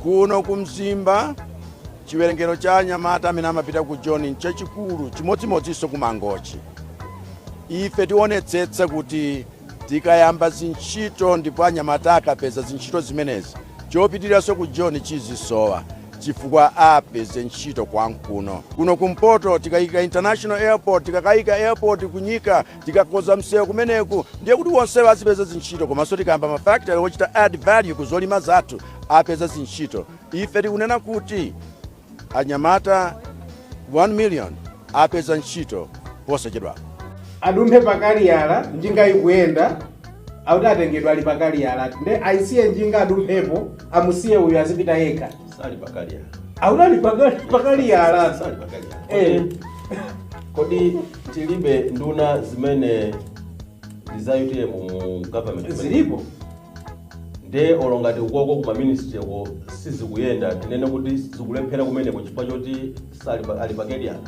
Kuno ku Mzimba chiwerengero cha anyamata amene amapita ku Joni nchachikulu chimodzimodzinso ku Mangochi. Ife tionetsetsa kuti tikayamba zintchito ndipo anyamata akapeza zintchito zimenezi chopitiranso ku Joni chizisowa chifukwa apeze ntchito kwankuno. Kuno kumpoto tikayika International Airport, tikakayika airport kunyika Tikakoza msewu kumeneko ndiye kuti wonsewo azipeza zintchito komanso tikayamba mafactory ochita add value ku zolima zathu apeza zintchito. Ife tikunena kuti anyamata 1 million apeza ntchito posachedwa. adumphe pa kaliyala njinga ikuyenda akuti atengedwe ali pa kaliyala nde ayisiye njinga adumphepo amusiye uyu azipita yekha sali pakaliyala akuti ali pakali pakaliyala sali pakaliyala eh kodi tilibe nduna zimene ndi za UTM mu government zilipo nde olo ngati ukoko kuma ministry ko sizikuyenda tinene kuti zikulephera kumeneko chifukwa choti sali pa- ali pakaliyala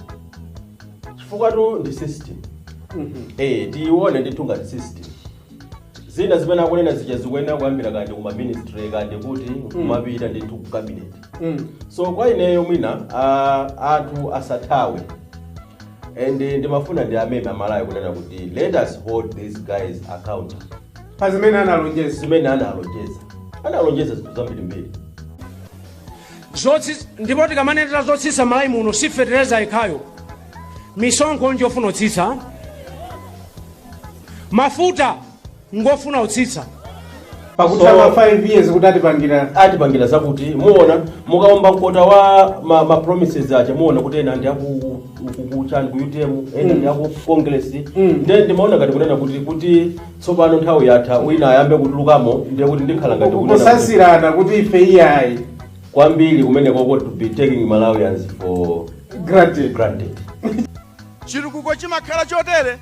chifukwatu ndi system eh tione ndithu ngati system Zina zimene akunena zija zikuyenera kuyambira kaya ndi kuma ministry kaya ndi kuti kumapita ndithu ku cabinet. Mm. So kwa ineyo mwina ah, anthu asathawe and ndimafuna ndiwameme aMalawi kunena kuti let us hold these guys accountable pa zimene analonjeza zimene analonjeza analonjeza zinthu zambirimbiri Zotsi- ndipo tikamanenera zotsitsa Malawi muno si fetereza yekhayo misonkho njofuna kutsitsa mafuta ngofuna kutsitsa pakutha ma 5 years kuti atipangira atipangira zakuti muona mukaomba mkota wa ma, ma promises aja muona kuti ena ndi aku kuchani ku utm ena ndi aku congress nde ndimaona ngati kunena kuti kuti tsopano nthawi yatha wina ayambe kutulukamo ndiye kuti ndikhala ngati kunena kuti- kusansirana kuti ife iyayi kwambiri kumene koko to be taking malawians for granted granted Chitukuko chimakhala chotere?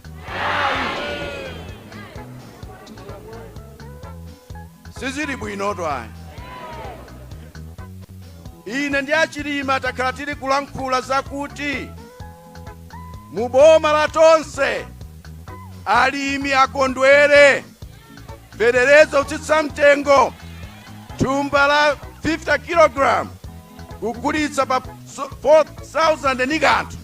Sizili bwinotu ayi. Ine ndi a Chilima takhala tili kulankhula zakuti mu boma la tonse alimi akondwere fetereza kutsitsa mtengo thumba la 50 kg kugulitsa pa so- 4000 ndi kanthu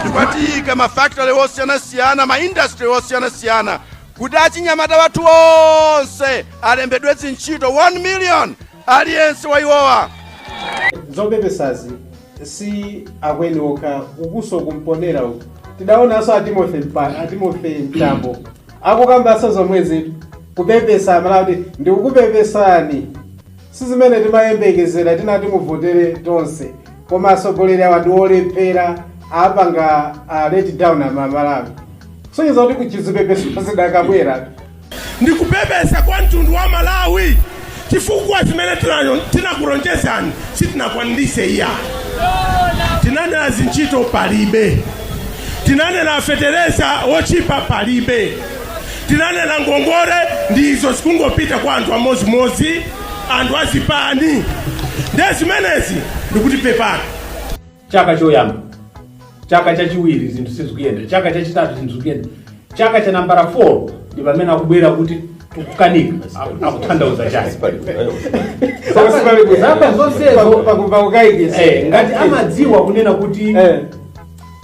tikukayika mafakitale osiyanasiyana maindastri osiyanasiyana kuti achinyamata wathu onse alembedwe zintchito 1 million aliyense wa iwowa zopepesazi si akweni okha ukunso kumpenera uku tidaonanso a timothy Mpa- a timothy mtambo akukambanso zomwezi kupepesa amalawi kuti ndikukupepesani si zimene timayembekezera tinati muvotere tonse koma atsogoleri awa ndi olephera apanga a let down amalawi kusonyeza kuti zipepeso zidakabwera ndi kupepesa kwa mtundu wa amalawi chifukwa zimene tinayo- tinakulonjezani sitinakwaniritse iya tinanena zintchito palibe tinanena fetereza wochipa palibe tinanena ngongole ndi izo zikungopita kwa anthu amodzimodzi anthu azipani nde zimenezi ndikuti pepani chaka choyamba chaka chachiwiri zinthu sizikuyenda chaka chachitatu zinthu sizikuyenda chaka cha nambala 4 ndi pamene akubwera kuti tikukanika Aku- akutanthauza chani zaka zonsezo pakumva kukaikisa Eh, ngati amadziwa kunena kuti Eh.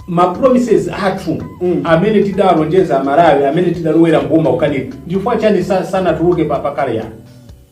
ma promises athu Mm. amene tidalonjeza amalawi amene tidalowera mboma akukanika ndifukwa chani sa- sanatuluke pakale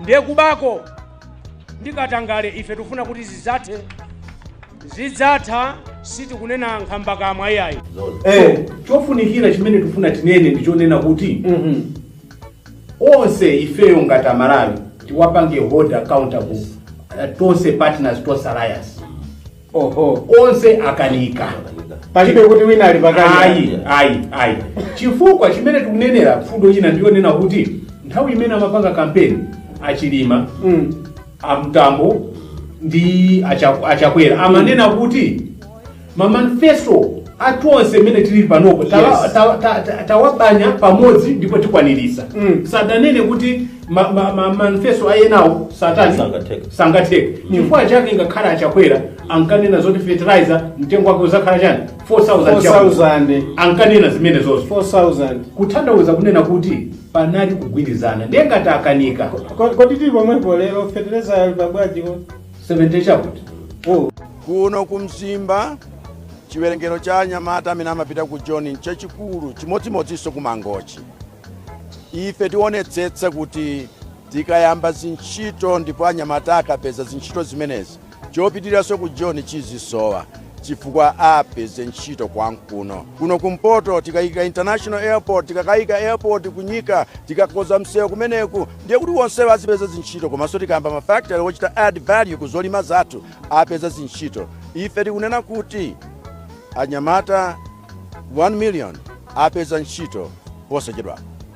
Ndiye kubako ndi katangale ife tikufuna kuti zidzathe. Zidzatha sitikunena nkhambakamwa iyayi. Eh, chofunikira chimene tikufuna tinene ndi chonena kuti onse ifeyo ngati amalawi tiwapange hold accountable eh, tonse partners tonse alliance onse akanika palibe kuti wina ali pakali ayi ayi chifukwa chimene tikunenera mfundo ina ndiyonena kuti nthawi imene amapanga kampeni achilima mm. amtambo ndi Acha- achakwera amanena kuti mamanifesto athu onse imene tili panopo tawa- Yes. tawa- ta- ta- tawabanya pamodzi ndipo tikwaniritsa Mm. sadanene kuti ma- ma- ma- manifesto a enawo satani Sangatheke. sangatheke chifukwa chake ngakhale achakwera ankanena zoti fertilizer mtengo wake uzakhala chani 4000 chakwera. 4000 ankanena zimenezozo 4000 kutanthauza kunena kuti panali kugwirizana ndiye ngati akanika Ko- kodi tili pomwepo lero fetereza ali pabwanji ko 70 chakuti oh. kuno ku mzimba chiwerengero cha anyamata amene amapita ku joni nchachikulu chimodzimodzinso ku mangochi Ife tionetsetsa kuti tikayamba zintchito ndipo anyamata akapeza zintchito zimenezi, chopitiranso ku Joni chizisowa chifukwa apeze ntchito kwankuno. Kuno kumpoto tikayika international airport, tikakayika airport ku Nyika, tikakonza msewu kumeneku ndiye kuti onsewo azipeza zintchito komanso tikayamba ma factory ochita add value ku zolima zathu apeza zintchito ife tikunena kuti anyamata 1 million apeza ntchito posachedwapa